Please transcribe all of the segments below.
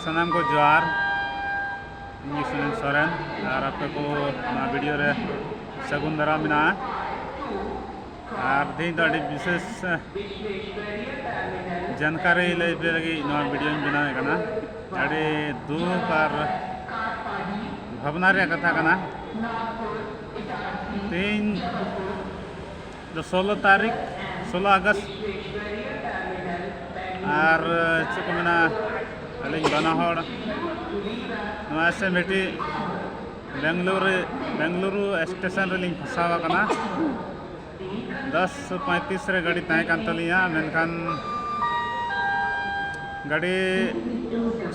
ᱥᱟᱱᱟᱢ ᱠᱚ ᱡᱚᱦᱟᱨ ᱤᱧ ᱥᱩᱱᱤᱞ ᱥᱚᱨᱮᱱ ᱟᱨ ᱟᱯᱮ ᱠᱚ ᱱᱚᱣᱟ ᱵᱷᱤᱰᱤᱭᱳ ᱨᱮ ᱥᱟᱹᱜᱩᱱ ᱫᱟᱨᱟᱢ ᱢᱮᱱᱟᱜᱼᱟ ᱟᱨ ᱛᱮᱦᱮᱧ ᱫᱚ ᱟᱹᱰᱤ ᱵᱤᱥᱮᱥ ᱡᱟᱱᱠᱟᱨᱤ ᱞᱟᱹᱭ ᱯᱮ ᱞᱟᱹᱜᱤᱫ ᱱᱚᱣᱟ ᱵᱷᱤᱰᱤᱭᱳᱧ ᱵᱮᱱᱟᱣᱮᱫ ᱠᱟᱱᱟ ᱟᱹᱰᱤ ᱫᱩᱠ ᱟᱨ ᱵᱷᱟᱵᱽᱱᱟ ᱨᱮᱭᱟᱜ ᱠᱟᱛᱷᱟ ᱠᱟᱱᱟ ᱛᱮᱦᱮᱧ ᱫᱚ ᱥᱳᱞᱳ ᱛᱟᱹᱨᱤᱠᱷ ᱥᱳᱞᱳ ᱟᱜᱚᱥᱴ ᱟᱨ ᱪᱮᱫ ᱠᱚ ᱢᱮᱱᱟ ᱟᱹᱞᱤᱧ ᱵᱟᱱᱟ ᱦᱚᱲ ᱱᱚᱣᱟ ᱥᱮ ᱢᱤᱫᱴᱤᱡ ᱵᱮᱝᱜᱟᱞᱩᱨᱩ ᱵᱮᱝᱜᱟᱞᱩᱨᱩ ᱥᱴᱮᱥᱚᱱ ᱨᱮᱞᱤᱧ ᱯᱷᱟᱥᱟᱣ ᱟᱠᱟᱱᱟ ᱫᱚᱥ ᱯᱚᱸᱭᱛᱨᱤᱥ ᱨᱮ ᱜᱟᱹᱰᱤ ᱛᱟᱦᱮᱸ ᱠᱟᱱ ᱛᱟᱹᱞᱤᱧᱟ ᱢᱮᱱᱠᱷᱟᱱ ᱜᱟᱹᱰᱤ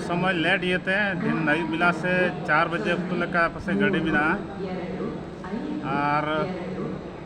ᱥᱚᱢᱚᱭ ᱞᱮᱴ ᱤᱭᱟᱹᱛᱮ ᱫᱤᱱ ᱟᱹᱭᱩᱵ ᱵᱮᱞᱟ ᱥᱮ ᱪᱟᱨ ᱵᱟᱡᱮ ᱚᱠᱛᱚ ᱞᱮᱠᱟ ᱯᱟᱥᱮᱡ ᱜᱟᱹᱰᱤ ᱢᱮᱱᱟᱜᱼᱟ ᱟᱨ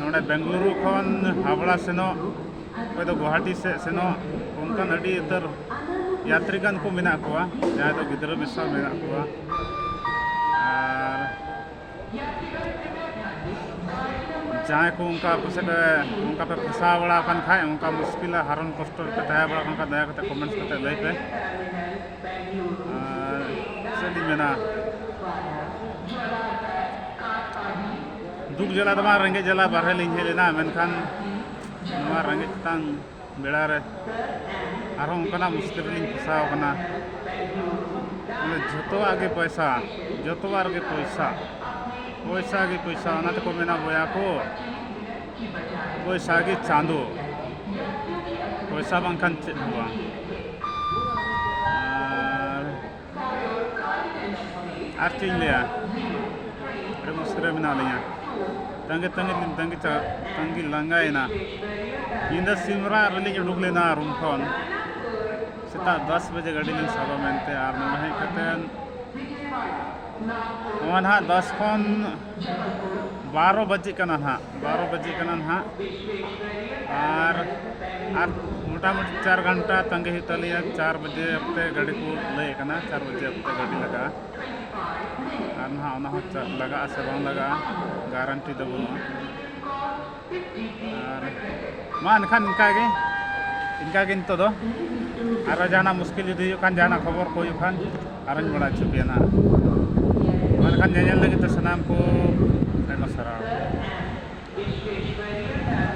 ᱱᱚᱰᱮ ᱵᱮᱝᱜᱟᱞᱩᱨᱩ ᱠᱷᱚᱱ ᱦᱟᱵᱲᱟ ᱥᱮᱱᱚᱜ ᱚᱠᱚᱭ ᱫᱚ ᱜᱩᱣᱟᱦᱟᱴᱤ ᱥᱮᱫ ᱥᱮᱱᱚᱜ ᱚᱱᱠᱟᱱ ᱟᱹᱰᱤ ᱩᱛᱟᱹᱨ ᱭᱟᱛᱨᱤ ᱜᱟᱱ ᱠᱚ ᱢᱮᱱᱟᱜ ᱠᱚᱣᱟ ᱡᱟᱦᱟᱸᱭ ᱫᱚ ᱜᱤᱫᱽᱨᱟᱹ ᱢᱮᱥᱟ ᱢᱮᱱᱟᱜ ᱠᱚᱣᱟ ᱟᱨ ᱡᱟᱦᱟᱸᱭ ᱠᱚ ᱚᱱᱠᱟ ᱯᱟᱥᱮᱡ ᱚᱱᱠᱟ ᱯᱮ ᱯᱷᱟᱥᱟᱣ ᱵᱟᱲᱟ ᱟᱠᱟᱱ ᱠᱷᱟᱡ ᱚᱱᱠᱟ ᱢᱩᱥᱠᱤᱞ ᱦᱟᱨᱚᱱ ᱠᱚᱥᱴᱚ ᱨᱮᱯᱮ ᱛᱟᱦᱮᱸ ᱵᱟᱲᱟ ᱟᱠᱟᱱ ᱠᱷᱟᱡ ᱫᱟᱭᱟ ᱠᱟᱛᱮ ᱠᱚᱢᱮᱱᱴ ᱠᱟᱛᱮ ᱞᱟᱹᱭ ᱯᱮ ᱟᱨ ᱪᱮᱫ ᱤᱧ ᱢᱮᱱᱟ ᱫᱩᱠ ᱡᱟᱞᱟ ᱫᱚ ᱵᱟᱝ ᱨᱮᱸᱜᱮᱡ ᱡᱟᱞᱟ ᱵᱟᱨᱦᱮ ᱞᱤᱧ ᱦᱮᱡ ᱞᱮᱱᱟ ᱢᱮᱱᱠᱷᱟᱱ ᱱᱚᱣᱟ ᱨᱮᱸᱜᱮᱡ ᱛᱟᱝ ᱵᱮᱲᱟ ᱨᱮ ᱟᱨᱦᱚᱸ ᱚᱱᱠᱟᱱᱟᱜ ᱢᱩᱥᱠᱤᱞ ᱨᱮᱞᱤᱧ ᱯᱷᱟᱥᱟᱣ ᱠᱟᱱᱟ ᱢᱟᱱᱮ ᱡᱷᱚᱛᱚᱣᱟᱜ ᱜᱮ ᱯᱚᱭᱥᱟ ᱡᱷᱚᱛᱚᱣᱟᱜ ᱨᱮᱜᱮ ᱯᱚᱭᱥᱟ ᱯᱚᱭᱥᱟ ᱜᱮ ᱯᱚᱭᱥᱟ ᱚᱱᱟ ᱛᱮᱠᱚ ᱢᱮᱱᱟ ᱵᱚᱭᱟ ᱠᱚ ᱯᱚᱭᱥᱟ ᱜᱮ ᱪᱟᱸᱫᱚ ᱯᱚᱭᱥᱟ ᱵᱟᱝᱠᱷᱟᱱ ᱪᱮᱫ ᱦᱚᱸ ᱵᱟᱝ ᱟᱨ ᱪᱮᱫ ᱤᱧ ᱞᱟᱹᱭᱟ ᱟᱹᱰᱤ ᱢᱩᱥᱠᱤᱞ ᱨᱮ ᱢᱮᱱᱟᱜ ᱞᱤᱧᱟ ᱛᱟᱺᱜᱤ ᱛᱟᱺᱜᱤ ᱛᱮ ᱛᱟᱺᱜᱤ ᱛᱟᱺᱜᱤ ᱞᱟᱸᱜᱟᱭᱮᱱᱟ ᱧᱤᱫᱟᱹ ᱥᱤᱢ ᱨᱟᱜ ᱨᱮᱞᱤᱧ ᱩᱰᱩᱠ ᱞᱮᱱᱟ ᱨᱩᱢ ᱠᱷᱚᱱ ᱥᱮᱛᱟᱜ ᱫᱚᱥ ᱵᱟᱡᱮ ᱜᱟᱹᱰᱤ ᱞᱤᱧ ᱥᱟᱵᱟ ᱢᱮᱱᱛᱮ ᱟᱨ ᱱᱚᱰᱮ ᱦᱮᱡ ᱠᱟᱛᱮᱫ ᱱᱚᱣᱟ ᱱᱟᱦᱟᱜ ᱫᱚᱥ ᱠᱷᱚᱱ ᱵᱟᱨᱚ ᱵᱟᱡᱮᱜ ᱠᱟᱱᱟ ᱱᱟᱦᱟᱜ ᱵᱟᱨᱚ ᱵᱟᱡᱮᱜ ᱠᱟᱱᱟ ᱱᱟᱦᱟᱜ ᱟᱨ ᱟᱨ ᱢᱚᱴᱟᱢᱩᱴᱤ ᱪᱟᱨ ᱜᱷᱚᱱᱴᱟ ᱛᱟᱸᱜᱤ ᱦᱩᱭᱩᱜ ᱛᱟᱞᱮᱭᱟ ᱪᱟᱨ ᱵᱟᱡᱮ ᱚᱠᱛᱮ ᱜᱟᱹᱰᱤ ᱠᱚ ᱞᱟᱹᱭᱮᱫ ᱠᱟᱱᱟ ᱪᱟᱨ ᱵᱟᱡᱮ ᱚᱠᱛᱮ ᱜᱟᱹᱰᱤ ᱞᱟᱜᱟᱜᱼᱟ ᱟᱨ ᱱᱟᱦᱟᱜ ᱚᱱᱟ ᱦᱚᱸ ᱞᱟᱜᱟᱜᱼᱟ ᱥᱮ ᱵᱟᱝ ᱞᱟᱜᱟᱜᱼᱟ ᱜᱟᱨᱮᱱᱴᱤ ᱫᱚ ᱵᱟᱹᱱᱩᱜᱼᱟ ᱟᱨ ᱢᱟ ᱮᱱᱠᱷᱟᱱ ᱤᱱᱠᱟᱹᱜᱮ ᱤᱱᱠᱟᱹᱜᱮ ᱱᱤᱛᱚᱜ ᱫᱚ ᱟᱨᱚ ᱡᱟᱦᱟᱱᱟᱜ ᱢᱩᱥᱠᱤᱞ ᱡᱩᱫᱤ ᱦᱩᱭᱩᱜ ᱠᱷᱟᱱ ᱡᱟᱦᱟᱱᱟᱜ ᱠᱷᱚᱵᱚᱨ ᱠᱚ ᱦᱩᱭᱩᱜ ᱠᱷᱟᱱ ᱟᱨᱚᱧ ᱵᱟᱲᱟᱭ ᱦᱚᱪᱚ ᱯᱮᱭᱟ ᱱᱟᱦᱟᱜ ᱢᱟ ᱮᱱᱠᱷᱟᱱ ᱧᱮᱧᱮᱞ ᱞᱟᱹᱜᱤᱫ ᱛᱮ ᱥᱟᱱᱟᱢ ᱠᱚ ᱟᱭᱢᱟ ᱥᱟᱨᱦᱟᱣ